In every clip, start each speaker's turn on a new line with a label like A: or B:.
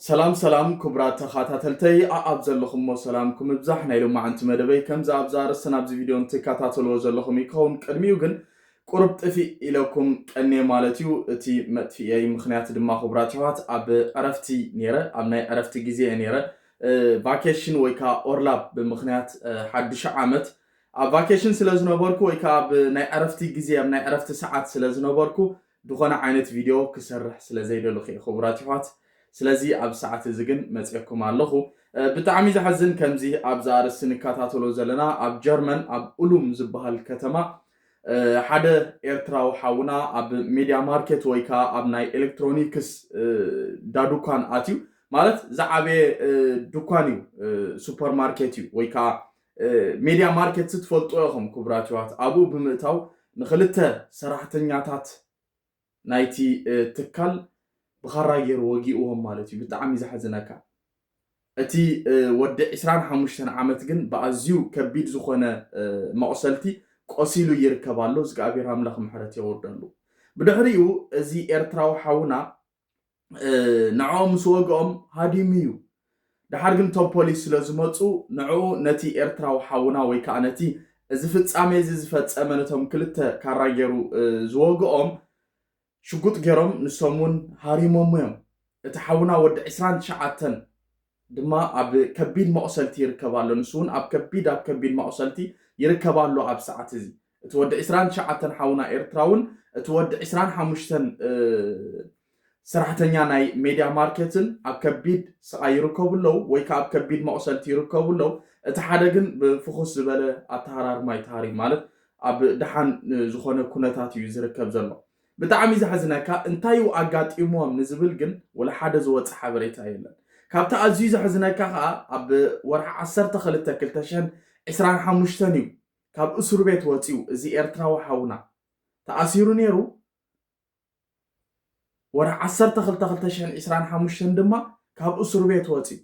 A: ሰላም ሰላም ኩቡራት ተኻታተልተይ ኣኣብ ዘለኹሞ ሰላምኩም እብዛሕ ናይ ሎማዕንቲ መደበይ ከምዚ ኣብዚ ኣርእስትን ኣብዚ ቪድዮን ትካታተልዎ ዘለኹም እዩ ክኸውን ቅድሚኡ ግን ቁሩብ ጥፊእ ኢለኩም ቀኔ ማለት እዩ እቲ መጥፊእየይ ምኽንያት ድማ ኩቡራት ይሕዋት ኣብ ዕረፍቲ ኔረ ኣብ ናይ ዕረፍቲ ግዜ እየ ኔረ ቫኬሽን ወይ ከዓ ኦርላብ ብምኽንያት ሓዱሽ ዓመት ኣብ ቫኬሽን ስለ ዝነበርኩ ወይ ከዓ ኣብ ናይ ዕረፍቲ ግዜ ኣብ ናይ ዕረፍቲ ሰዓት ስለ ዝነበርኩ ድኾነ ዓይነት ቪድዮ ክሰርሕ ስለ ዘይደለኹ እየ ኽቡራት ይሕዋት ስለዚ ኣብዚ ሰዓት እዚ ግን መጽየኩም ኣለኹ ብጣዕሚ ዝሓዝን ከምዚ ኣብዚ ኣርእስቲ ንከታተሎ ዘለና ኣብ ጀርመን ኣብ ኡሉም ዝበሃል ከተማ ሓደ ኤርትራዊ ሓውና ኣብ ሜድያ ማርኬት ወይ ከዓ ኣብ ናይ ኤሌክትሮኒክስ ዳዱኳን ኣትዩ ማለት ዝዓበየ ዱኳን እዩ ሱፐር ማርኬት እዩ ወይ ከዓ ሜድያ ማርኬትስ ትፈልጥዎ ኢኹም ክቡራት የሕዋት ኣብኡ ብምእታው ንኽልተ ሰራሕተኛታት ናይቲ ትካል ብኻራ ገይሩ ወጊእዎም ማለት እዩ ብጣዕሚ ዘሕዝነካ እቲ ወዲ 25 ዓመት ግን ብኣዝዩ ከቢድ ዝኾነ መቑሰልቲ ቆሲሉ ይርከብ ኣሎ ዝግኣብሔር ኣምላኽ ምሕረት የወርደሉ ብድሕሪኡ እዚ ኤርትራዊ ሓውና ንዕኦም ምስ ወግኦም ሃዲሙ እዩ ድሓር ግን እቶም ፖሊስ ስለ ዝመፁ ንዕኡ ነቲ ኤርትራዊ ሓውና ወይ ከዓ ነቲ እዚ ፍጻሜ እዚ ዝፈጸመ ነቶም ክልተ ካራ ገይሩ ዝወግኦም ሽጉጥ ገይሮም ንሶም እውን ሃሪሞሞ እዮም እቲ ሓውና ወዲ ዕስራን ትሽዓተን ድማ ኣብ ከቢድ መቑሰልቲ ይርከብ ኣሎ። ንሱ ውን ኣብ ከቢድ ኣብ ከቢድ ማቑሰልቲ ይርከብ ኣሎ ኣብ ሰዓት እዚ። እቲ ወዲ ዕስራን ትሽዓተን ሓውና ኤርትራውን እቲ ወዲ ዕስራን ሓሙሽተን ሰራሕተኛ ናይ ሜድያ ማርኬትን ኣብ ከቢድ ስቓይ ይርከቡ ኣለው ወይ ከኣ ኣብ ከቢድ መቑሰልቲ ይርከቡ ኣለው። እቲ ሓደ ግን ብፍኹስ ዝበለ ኣተሃራርማ እዩ ተሃሪሙ ማለት ኣብ ደሓን ዝኾነ ኩነታት እዩ ዝርከብ ዘሎ። ብጣዕሚ ዘሕዝነካ እንታይ ዩ ኣጋጢምዎም ንዝብል ግን ወላ ሓደ ዝወጸ ሓበሬታ የለን። ካብቲ ኣዝዩ ዘሕዝነካ ከኣ ኣብ ወርሒ ዓሰርተ ክልተ ክልተ ሽሕን ዕስራን ሓሙሽተን ዩ ካብ እሱርቤት ወጺኡ እዚ ኤርትራዊ ሓውና። ተኣሲሩ ኔሩ ወርሒ ዓሰርተ ክልተ ክልተ ሽሕን ዕስራን ሓሙሽተን ድማ ካብ እሱርቤት ወጺኡ።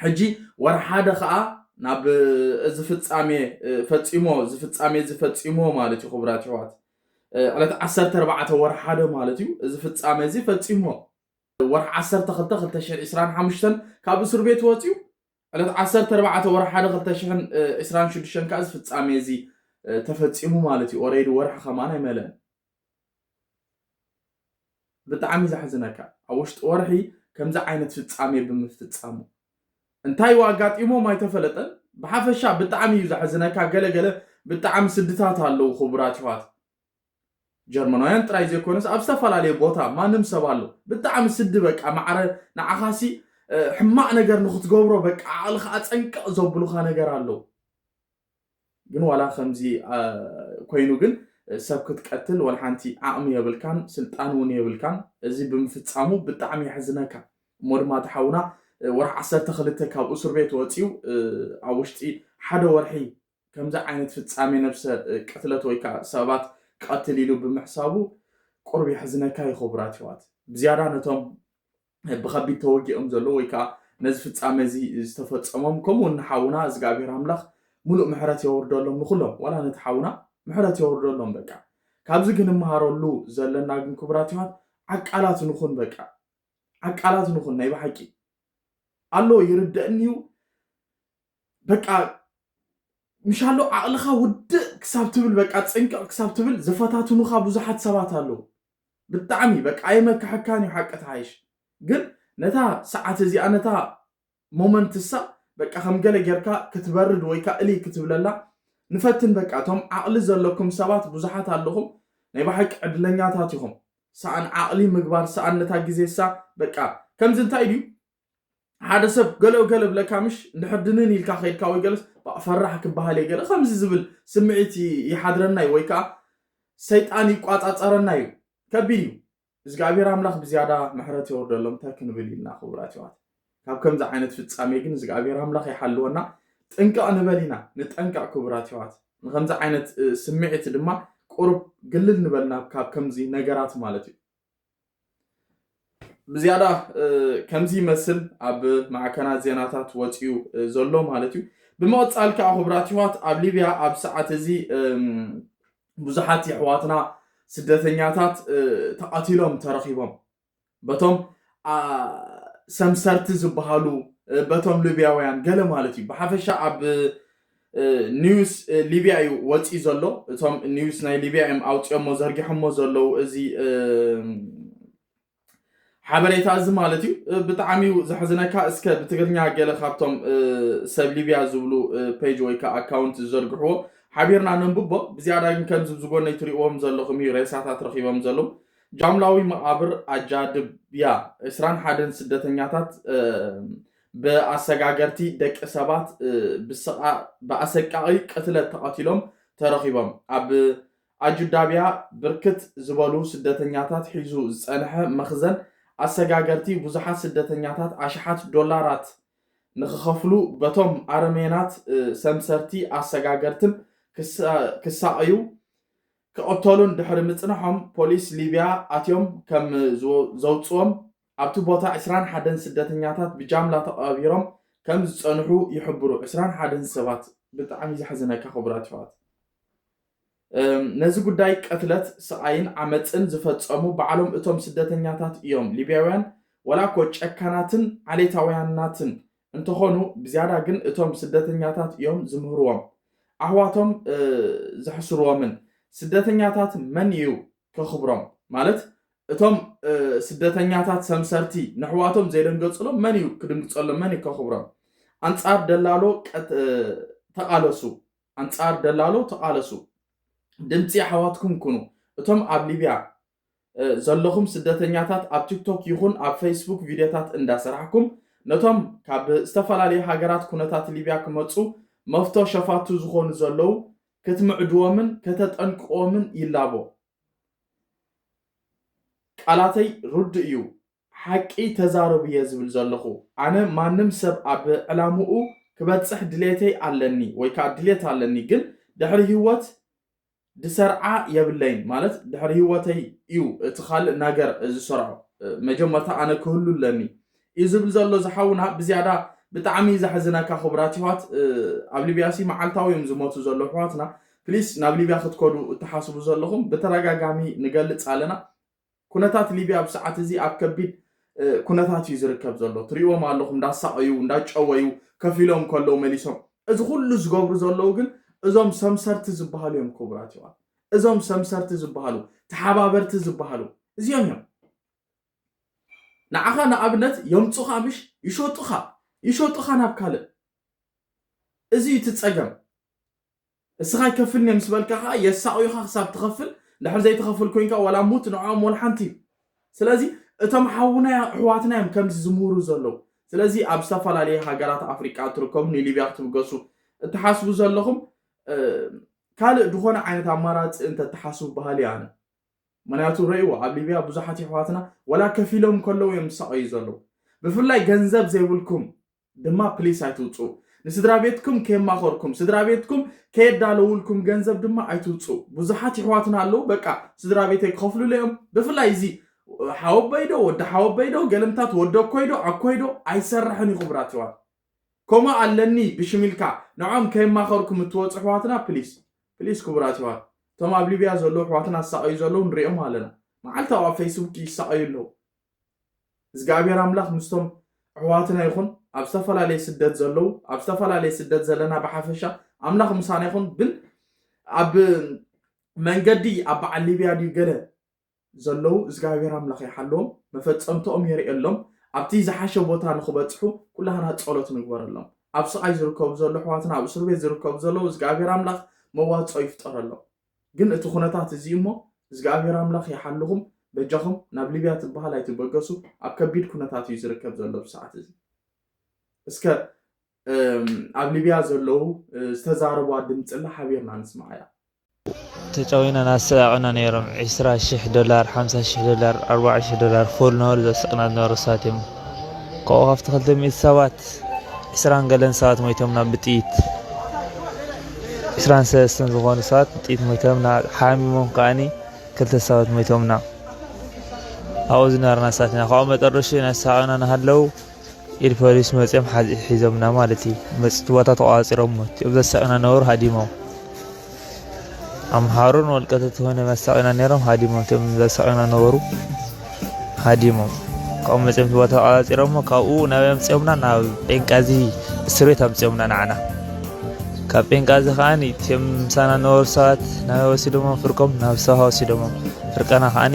A: ሕጂ ወርሒ ሓደ ከኣ ናብ እዚ ፍጻሜ ፈጺሞ እዚ ፍጻሜ እዚ ፈጺሞ ማለት እዩ ክቡራት ይሕዋት ዕለት ዓሰርተ ኣርባዕተ ወርሒ ሓደ ማለት እዩ እዚ ፍጻሜ እዚ ፈጺሞ ወርሒ ዓሰርተ ክልተ ክልተ ሽሕ ዒስራን ሓሙሽተን ካብ እስር ቤት ወፅዩ ዕለት ዓሰርተ ኣርባዕተ ወርሒ ሓደ ክልተ ሽሕን ዒስራን ሽዱሽተን ከዓ እዚ ፍጻሜ እዚ ተፈጺሙ ማለት እዩ ኦረይዲ ወርሒ ከማን ኣይመለእን ብጣዕሚ ዘሕዝነካ ኣብ ውሽጢ ወርሒ ከምዚ ዓይነት ፍጻሜ ብምፍጻሙ እንታይ እዩ ኣጋጢሞም ኣይተፈለጠን ብሓፈሻ ብጣዕሚ እዩ ዘሕዝነካ ገለ ገለ ብጣዕሚ ስድታት ኣለዉ ክቡራት ይዋት ጀርመናውያን ጥራይ ዘይኮነስ ኣብ ዝተፈላለየ ቦታ ማንም ሰብ ኣሎ ብጣዕሚ ስዲ በቃ ማዕረ ንዓኻሲ ሕማቕ ነገር ንክትገብሮ በቃ ዓቕልኻ ኣፀንቅቕ ዘብሉኻ ነገር ኣለዉ ግን ዋላ ከምዚ ኮይኑ ግን ሰብ ክትቀትል ወልሓንቲ ዓቅሚ የብልካን ስልጣን ውን የብልካን እዚ ብምፍጻሙ ብጣዕሚ የሕዝነካ እሞ ድማ እቲ ሓውና ወርሒ ዓሰርተ ክልተ ካብ እሱርቤት ወጽዩ ኣብ ውሽጢ ሓደ ወርሒ ከምዚ ዓይነት ፍጻሜ ነብሰ ቅትለት ወይ ከኣ ሰባት ቀትል ኢሉ ብምሕሳቡ ቁሩብ የሕዝነካ ዩ ክቡራት የሕዋት ብዝያዳ ነቶም ብከቢድ ተወጊኦም ዘለዉ ወይ ከዓ ነዚ ፍጻመ እዚ ዝተፈጸሞም ከምኡ እውን ንሓውና እግዚኣብሔር ኣምላኽ ሙሉእ ምሕረት የወርደሎም ንኩሎም ዋላ ነቲ ሓውና ምሕረት የወርደሎም በቃ ካብዚ ግን እምሃረሉ ዘለና ግን ክቡራት ይዋት ዓቃላት ንኹን በቃ ዓቃላት ንኹን ናይ ብሓቂ ኣሎ ይርደእኒ እዩ በቃ ምሻሎ ዓቕልኻ ውድእ ክሳብ ትብል በቃ ፅንቅቕ ክሳብ ትብል ዝፈታትኑኻ ብዙሓት ሰባት ኣለዉ ብጣዕሚ በቃ ኣየመክሐካን እዩ ሓቂ ትሓይሽ ግን ነታ ሰዓት እዚኣ ነታ ሞመንት እሳ በቃ ከም ገለ ጌርካ ክትበርድ ወይ ከ እልይ ክትብለላ ንፈትን በቃ እቶም ዓቕሊ ዘለኩም ሰባት ብዙሓት ኣለኹም ናይ ብሓቂ ዕድለኛታት ኢኹም ሰኣን ዓቕሊ ምግባር ሰኣን ነታ ግዜ እሳ በቃ ከምዚ እንታይ ድዩ ሓደ ሰብ ገለ ገለ ብለካ ምሽ እንድሕር ድንን ኢልካ ከይድካ ወይ ገለስ ፈራሕ ክበሃል እየ ገለ ከምዚ ዝብል ስምዒት ይሓድረና እዩ ወይ ከዓ ሰይጣን ይቋፃፀረና እዩ ከቢድ እዩ እግዚኣብሔር ኣምላኽ ብዝያዳ ምሕረት የወርደሎም እንታይ ክንብል ኢልና ክቡራት ይዋት ካብ ከምዚ ዓይነት ፍፃሜ ግን እግዚኣብሔር ኣምላኽ ይሓልወና ጥንቀቕ ንበል ኢና ንጠንቀቕ ክቡራት ይዋት ንከምዚ ዓይነት ስምዒት ድማ ቁርብ ግልል ንበልና ካብ ከምዚ ነገራት ማለት እዩ ብዝያዳ ከምዚ ይመስል ኣብ ማዕከናት ዜናታት ወፅዩ ዘሎ ማለት እዩ ብምቕፃል ከዓ ክቡራት ይዋት ኣብ ሊብያ ኣብ ሰዓት እዚ ብዙሓት የሕዋትና ስደተኛታት ተቐቲሎም ተረኺቦም በቶም ሰምሰርቲ ዝበሃሉ በቶም ሊብያውያን ገለ ማለት እዩ ብሓፈሻ ኣብ ኒውስ ሊብያ እዩ ወፂኡ ዘሎ እቶም ኒውስ ናይ ሊብያ እዮም ኣውፅኦሞ ዘርጊሖሞ ዘለው እዚ ሓበሬታ እዚ ማለት እዩ ብጣዕሚ እዩ ዘሕዝነካ እስከ ብትግርኛ ገለ ካብቶም ሰብ ሊብያ ዝብሉ ፔጅ ወይ ከዓ ኣካውንት ዝዘርግሕዎ ሓቢርና ነንብቦ ብዝያዳ ግን ከምዚ ዝጎነይ ትሪእዎም ዘለኹም እዩ ሬሳታት ረኺቦም ዘለዉ ጃምላዊ መቓብር ኣጃድብያ ዕስራን ሓደን ስደተኛታት ብኣሰጋገርቲ ደቂ ሰባት ብኣሰቃቒ ቅትለት ተቐቲሎም ተረኺቦም። ኣብ ኣጁዳብያ ብርክት ዝበሉ ስደተኛታት ሒዙ ዝጸንሐ መኽዘን ኣሰጋገርቲ ብዙሓት ስደተኛታት ኣሽሓት ዶላራት ንኽኸፍሉ በቶም ኣረሜናት ሰምሰርቲ ኣሰጋገርትን ክሳቐዩ ክቕተሉን ድሕሪ ምጽንሖም ፖሊስ ሊብያ ኣትዮም ከም ዘውጽዎም ኣብቲ ቦታ ዕስራን ሓደን ስደተኛታት ብጃምላ ተቐባቢሮም ከም ዝጸንሑ ይሕብሩ ዕስራን ሓደን ሰባት ብጣዕሚ ዘሕዝነካ ክቡራት ይሕዋት እም ነዚ ጉዳይ ቅትለት ስቓይን ዓመጽን ዝፈጸሙ ባዕሎም እቶም ስደተኛታት እዮም ሊብያውያን ወላ እኮ ጨካናትን ዓሌታውያናትን እንተኾኑ ብዝያዳ ግን እቶም ስደተኛታት እዮም ዝምህርዎም ኣሕዋቶም እ ዘሕስርዎምን ስደተኛታት መን እዩ ከኽብሮም ማለት እቶም ስደተኛታት ሰምሰርቲ ነሕዋቶም ዘይደንገፅሎም መን እዩ ክድንግፀሎም መን እዩ ከኽብሮም ኣንፃር ደላሎ ተቓለሱ ኣንፃር ደላሎ ተቓለሱ ድምፂ ኣሕዋትኩም ኩኑ እቶም ኣብ ሊብያ ዘለኹም ስደተኛታት ኣብ ቲክቶክ ይኹን ኣብ ፌስቡክ ቪድዮታት እንዳሰራሕኩም ነቶም ካብ ዝተፈላለዩ ሃገራት ኩነታት ሊብያ ክመፁ መፍቶ ሸፋቱ ዝኾኑ ዘለዉ ከትምዕድዎምን ከተጠንቅቕዎምን ይላቦ። ቃላተይ ርዱእ እዩ፣ ሓቂ ተዛረቡ'የ ዝብል ዘለኹ። ኣነ ማንም ሰብ ኣብ ዕላምኡ ክበጽሕ ድሌተይ ኣለኒ ወይ ከኣ ድሌት ኣለኒ፣ ግን ድሕሪ ህይወት ድሰርዓ የብለይን፣ ማለት ድሕሪ ህይወተይ እዩ እቲ ካልእ ናገር ዝሰርዖ፣ መጀመርታ ኣነ ክህሉ ኣለኒ፣ እዩ ዝብል ዘሎ እዚ ሓውና ብዝያዳ ብጣዕሚ እዩ ዘሕዝነካ ክቡራት ይሕዋት ኣብ ሊብያ ሲ መዓልታዊ እዮም ዝሞቱ ዘለዉ ኣሕዋትና ፕሊስ ናብ ሊብያ ክትከዱ እትሓስቡ ዘለኹም ብተደጋጋሚ ንገልጽ ኣለና ኩነታት ሊብያ ኣብ ሰዓት እዚ ኣብ ከቢድ ኩነታት እዩ ዝርከብ ዘሎ ትሪእዎም ኣለኹም እንዳሳቐዩ እንዳጨወዩ ከፍ ኢሎም ከለዉ መሊሶም እዚ ኩሉ ዝገብሩ ዘለዉ ግን እዞም ሰምሰርቲ ዝበሃሉ እዮም ክቡራት ይዋት እዞም ሰምሰርቲ ዝበሃሉ ተሓባበርቲ ዝበሃሉ እዚኦም እዮም ንዓኻ ንኣብነት የምጹኻ ምሽ ይሾጡኻ ይሾጡኻ ናብ ካልእ እዚ እዩ እቲ ጸገም እስኻ ኣይከፍልን እየ ምስ በልካ ከኣ የሳቑዩኻ ክሳብ ትኸፍል ድሕር ዘይትኸፍል ኮንካ ዋላ ሙት ንዕኦም ወላ ሓንቲ እዩ ስለዚ እቶም ሓውና ኣሕዋትና እዮም ከምዚ ዝምህሩ ዘለዉ ስለዚ ኣብ ዝተፈላለየ ሃገራት ኣፍሪቃ እትርከቡ ንሊብያ ክትብገሱ እትሓስቡ ዘለኹም ካልእ ዝኾነ ዓይነት ኣማራፂ እንተትሓስቡ በሃሊ ኣነ ምክንያቱ ረእይዎ ኣብ ሊብያ ብዙሓት የሕዋትና ወላ ከፊሎም ከለዉ እዮም ዝሳቀዩ ዘለዉ ብፍላይ ገንዘብ ዘይብልኩም ድማ ፕሊስ ኣይትውጽኡ ንስድራቤትኩም ከየማከርኩም ስድራቤትኩም ከየዳለውልኩም ገንዘብ ድማ ኣይትውጽኡ ብዙሓት የሕዋትና ኣለዉ በቃ ስድራቤተይ ክከፍሉለይ እዮም ብፍላይ እዚ ሓወበይዶ ወዲ ሓወበይዶ ገለምታት ወዲ ኣኮይዶ ኣኮይዶ ኣይሰርሕን እዩ ክቡራት የሕዋት ከምኡ ኣለኒ ብሽም ኢልካ ንዕኦም ከየማኸርኩም እትወጹ ኣሕዋትና ፕሊስ ፕሊስ ክቡራት የሕዋት እቶም ኣብ ሊብያ ዘለዉ ኣሕዋትና ዝሳቐዩ ዘለዉ ንሪኦም ኣለና መዓልታዊ ኣብ ፈይስቡክ ይሳቐዩ ኣለዉ እዝግኣብሄር ኣምላኽ ምስቶም ኣሕዋትና ይኹን ኣብ ዝተፈላለየ ስደት ዘለዉ ኣብ ዝተፈላለየ ስደት ዘለና ብሓፈሻ ኣምላኽ ምሳና ይኹን ግን ኣብ መንገዲ ኣብ በዓል ሊብያ ድዩ ገለ ዘለዉ እዝጋብሄር ኣምላኽ ይሓልዎም መፈጸምትኦም የርእየሎም ኣብቲ ዝሓሸ ቦታ ንኽበጽሑ ኩላህና ጸሎት ንግበረሎም ኣብ ስቓይ ዝርከቡ ዘሎ ኣሕዋትና ኣብ እሱርቤት ዝርከቡ ዘለዉ እዝጋብሄር ኣምላኽ መዋጽኦ ይፍጠረሎም ግን እቲ ኩነታት እዚ እሞ እዝጋብሄር ኣምላኽ ይሓልኹም በጃኹም ናብ ሊብያ ትበሃል ኣይትበገሱ ኣብ ከቢድ ኩነታት እዩ ዝርከብ ዘሎ ኣብዚ ሰዓት እዚ እስከ ኣብ ሊብያ ዘለዉ ዝተዛረብዋ ድምፅላ ሓቢርና ንስማዓያ ተጨዊና
B: ናሰቀዑና ነይሮም ዕስራ ሽሕ ዶላር ሓምሳ ሽሕ ዶላር ኣርባዓ ሽሕ ዶላር ፉል ነበሩ ዘስቅና ዝነበሩ ሰባት እዮም ካብኡ ካብቲ ክልተ ሚእቲ ሰባት ዕስራን ገለን ሰባት ሞይቶምና ብጥይት ዕስራን ሰለስተን ዝኾኑ ሰባት ብጥይት ሞይቶምና ሓሚሞም ከዓኒ ክልተ ሰባት ሞይቶምና ኣብኡ ዝነበርና ሰባት ኢና ካብኡ መጠረሹ ናሰቀዑና ናሃለው ኢድ ፖሊስ መጺኦም ሓዝ ሒዞምና ማለት እዩ። መጽቲ ቦታ ተቋጺሮሞ እቲኦም ዘሳቅዩና ነበሩ ሃዲሞም። ኣምሓሩን ወልቀተት ሆነ መሳቅዩና ነሮም ሃዲሞም እቲኦም ዘሳቅዩና ነበሩ ሃዲሞም። ካብኡ መጺኦም ቦታ ተቋጺሮሞ ካብኡ ናብ ኣምጺኦምና ናብ ጴንቃዚ እስር ቤት ኣምጺኦምና ንዓና። ካብ ጴንቃዚ ከዓኒ እቲኦም ምሳና ነበሩ ሰባት ናብ ወሲዶሞም ፍርቆም ናብ ሰውሃ ወሲዶሞም ፍርቀና ከዓኒ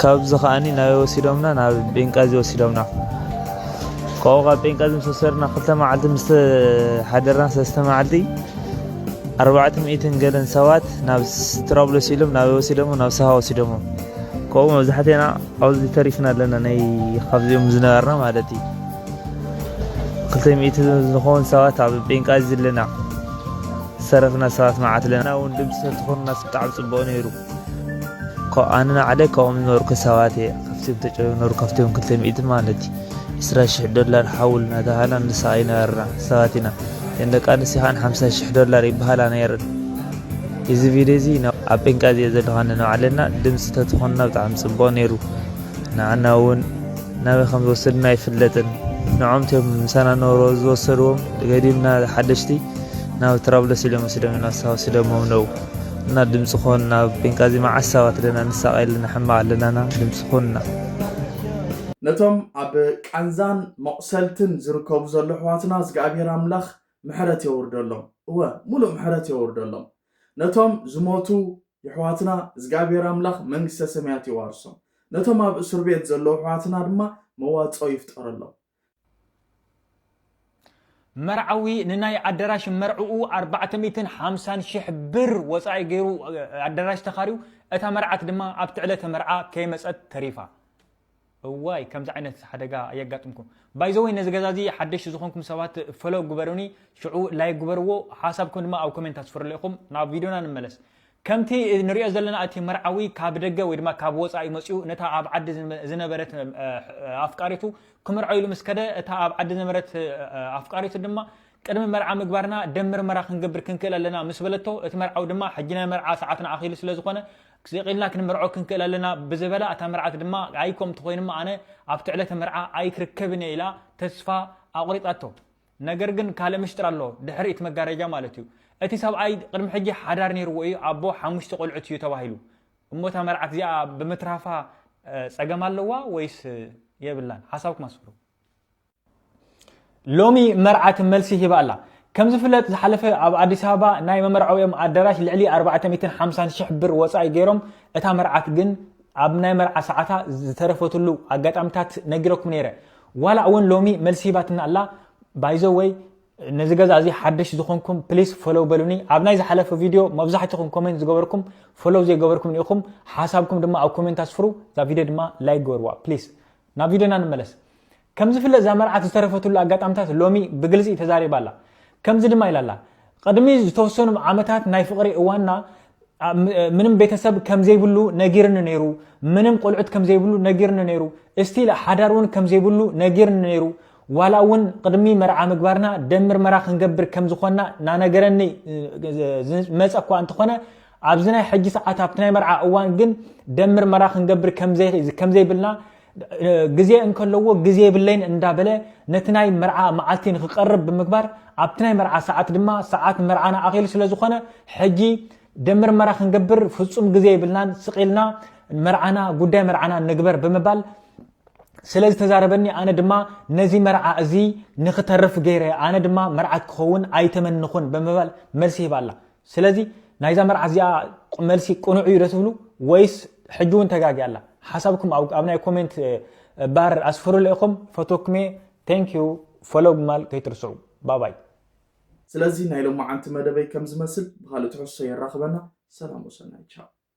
B: ካብዚ ከኣ ናበይ ወሲዶምና ናብ ቤንቃዚ ወሲዶምና ካብኡ ካብ ቤንቃዚ ምስ ወሰድና ክልተ መዓልቲ ምስ ሓደርና ሰለስተ መዓልቲ ኣርባዕተ ሚእትን ገለን ሰባት ናብ ትራብሎስ ኢሎም ናበይ ወሲዶሞ ናብ ሰሃ ወሲዶሞ ካብኡ መብዛሕትና ኣብዚ ተሪፍና ኣለና ናይ ካብዚኦም ዝነበርና ማለት እዩ ክልተ ሚእቲ ዝኸውን ሰባት ኣብ ቤንቃዚ ኣለና ሰረፍና ሰባት መዓት ኣለና እውን ድምፂ ተትኾኑና ብጣዕሚ ፅቡቕ ነይሩ ኮብ ኣነ ናዕለ ካብኦም ዝነበርኩ ሰባት እየ ካብቲኦም ተጨበ ዝነበሩ ካብቲኦም ክልተ ሚእቲ ማለት እዩ ዕስራ ሽሕ ዶላር ሓውል እናተባሃልና ንሰቃይ ነበርና ሰባት ኢና እተን ደቂ ኣንስትዮ ከዓ ሓምሳ ሽሕ ዶላር ይበሃላ ነይረን እዚ ቪድዮ እዚ ኣብ ጴንቃ እዚኦ ዘለካ ንባዕለና ድምፂ ተትኾንና ብጣዕሚ ፅቡቅ ነይሩ ንዓና እውን ናበይ ከም ዝወሰዱና ኣይፍለጥን ንዖም ቶም ምሳና ነበሮ ዝወሰድዎም ገዲምና ሓደሽቲ ናብ ትራብሎስ ኢሎም ወሲዶም ኢና ሳወሲዶሞም ነው እና ድምፂ ኮንና ኣብ ቤንቃዚ መዓስ ሰባት ኣለና ንሳቀይ ኣለና ሕማቅ ኣለና እና ድምፂ ኮንና።
A: ነቶም ኣብ ቃንዛን መቁሰልትን ዝርከቡ ዘሎ ኣሕዋትና እዝግኣብሄር ኣምላኽ ምሕረት የውርደሎም እወ ሙሉእ ምሕረት የውርደሎም ነቶም ዝሞቱ የሕዋትና እዝግኣብሄር ኣምላኽ መንግስተ ሰማያት የዋርሶም ነቶም ኣብ እሱርቤት ዘለዉ ኣሕዋትና ድማ መዋጽኦ ይፍጠረሎም
C: መርዓዊ ንናይ ኣዳራሽ መርዕኡ ኣርባዕተ ሚእትን ሓምሳን ሽሕ ብር ወፃኢ ገይሩ ኣዳራሽ ተኻርዩ እታ መርዓት ድማ ኣብቲ ዕለተ መርዓ ከይመፀት ተሪፋ እዋይ ከምዚ ዓይነት ሓደጋ ኣየጋጥምኩም ባይዘወይ ነዚ ገዛ እዚ ሓደሽቲ ዝኾንኩም ሰባት ፈሎ ግበሩኒ ሽዑ ላይ ግበርዎ ሓሳብኩም ድማ ኣብ ኮሜንት ኣስፍርሉ ኢኹም ናብ ቪድዮና ንመለስ ከምቲ ንሪኦ ዘለና እቲ መርዓዊ ካብ ደገ ወይ ድማ ካብ ወፃኢ መፂኡ ነታ ኣብ ዓዲ ዝነበረት ኣፍቃሪቱ ክምርዖ ኢሉ ምስ ከደ እታ ኣብ ዓዲ ዝነበረት ኣፍቃሪቱ ድማ ቅድሚ መርዓ ምግባርና ደም ምርመራ ክንገብር ክንክእል ኣለና ምስ በለቶ እቲ መርዓዊ ድማ ሕጂ ናይ መርዓ ሰዓትና ኣኺሉ ስለ ዝኾነ ስቂልና ክንምርዖ ክንክእል ኣለና ብዝበላ እታ መርዓት ድማ ኣይ ከምቲ ኮይኑማ ኣነ ኣብቲ ዕለተ መርዓ ኣይክርከብን እየ ኢላ ተስፋ ኣቑሪፃቶ ነገር ግን ካልእ ምሽጥር ኣሎ ድሕሪ እቲ መጋረጃ ማለት እዩ እቲ ሰብኣይ ቅድሚ ሕጂ ሓዳር ነይርዎ እዩ ኣቦ ሓሙሽተ ቆልዑት እዩ ተባሂሉ እሞ እታ መርዓት እዚኣ ብምትራፋ ጸገም ኣለዋ ወይስ የብላን ሓሳብኩም ኣስፍሩ ሎሚ መርዓት መልሲ ሂባ ኣላ ከም ዝፍለጥ ዝሓለፈ ኣብ ኣዲስ ኣበባ ናይ መመርዓዊኦም ኣዳራሽ ልዕሊ 450 ሽሕ ብር ወፃኢ ገይሮም እታ መርዓት ግን ኣብ ናይ መርዓ ሰዓታ ዝተረፈትሉ ኣጋጣሚታት ነጊረኩም ነይረ ዋላ እውን ሎሚ መልሲ ሂባትና ኣላ ባይዘወይ ነዚ ገዛ እዚ ሓድሽ ዝኾንኩም ፕሊስ ፎሎው በሉኒ ኣብ ናይ ዝሓለፈ ቪድዮ መብዛሕትኹም ኮሜንት ዝገበርኩም ፎሎው ዘይገበርኩም ኢኹም ሓሳብኩም ድማ ኣብ ኮሜንት ኣስፍሩ እዛ ቪድዮ ድማ ላይክ ገበርዋ ፕሊስ ናብ ቪድዮና ንመለስ ከም ዝፍለጥ እዛ መርዓት ዝተረፈትሉ ኣጋጣምታት ሎሚ ብግልፂ ተዛሪባ ኣላ ከምዚ ድማ ኢላ ኣላ ቕድሚ ዝተወሰኑ ዓመታት ናይ ፍቕሪ እዋንና ምንም ቤተሰብ ከምዘይብሉ ነጊርኒ ነይሩ ምንም ቆልዑት ከምዘይብሉ ነጊርኒ ነይሩ እስቲል ሓዳር እውን ከምዘይብሉ ነጊርኒ ነይሩ ዋላ እውን ቕድሚ መርዓ ምግባርና ደም ምርመራ ክንገብር ከምዝኾንና ናነገረኒ ዝመፀ እኳ እንተኾነ ኣብዚ ናይ ሕጂ ሰዓት ኣብቲ ናይ መርዓ እዋን ግን ደም ምርመራ ክንገብር ከምዘይብልና ግዜ እንከለዎ ግዜ የብለይን እንዳበለ ነቲ ናይ መርዓ መዓልቲ ንክቀርብ ብምግባር ኣብቲ ናይ መርዓ ሰዓት ድማ ሰዓት መርዓና ኣኺሉ ስለ ዝኾነ ሕጂ ደም ምርመራ ክንገብር ፍጹም ግዜ የብልናን ስቂልና መርዓና ጉዳይ መርዓና ንግበር ብምባል ስለ ዝተዛረበኒ ኣነ ድማ ነዚ መርዓ እዚ ንክተርፍ ገይረ ኣነ ድማ መርዓት ክኸውን ኣይተመንኹን ብምባል መልሲ ሂባ ኣላ ስለዚ ናይዛ መርዓ እዚኣ መልሲ ቅኑዕ እዩ ዶ ትብሉ ወይስ ሕጂ እውን ተጋጊያ ኣላ ሓሳብኩም ኣብ ናይ ኮሜንት ባር ኣስፍሩለ ኢኹም ፈትወኩም እየ ቴንክ ዩ ፎሎው ምባል ከይትርስዑ ባባይ
A: ስለዚ ናይ ሎማዓንቲ መደበይ ከም ዝመስል ብኻልእ ትሕዝቶ የራኽበና ሰላም ወሰናይ ቻው።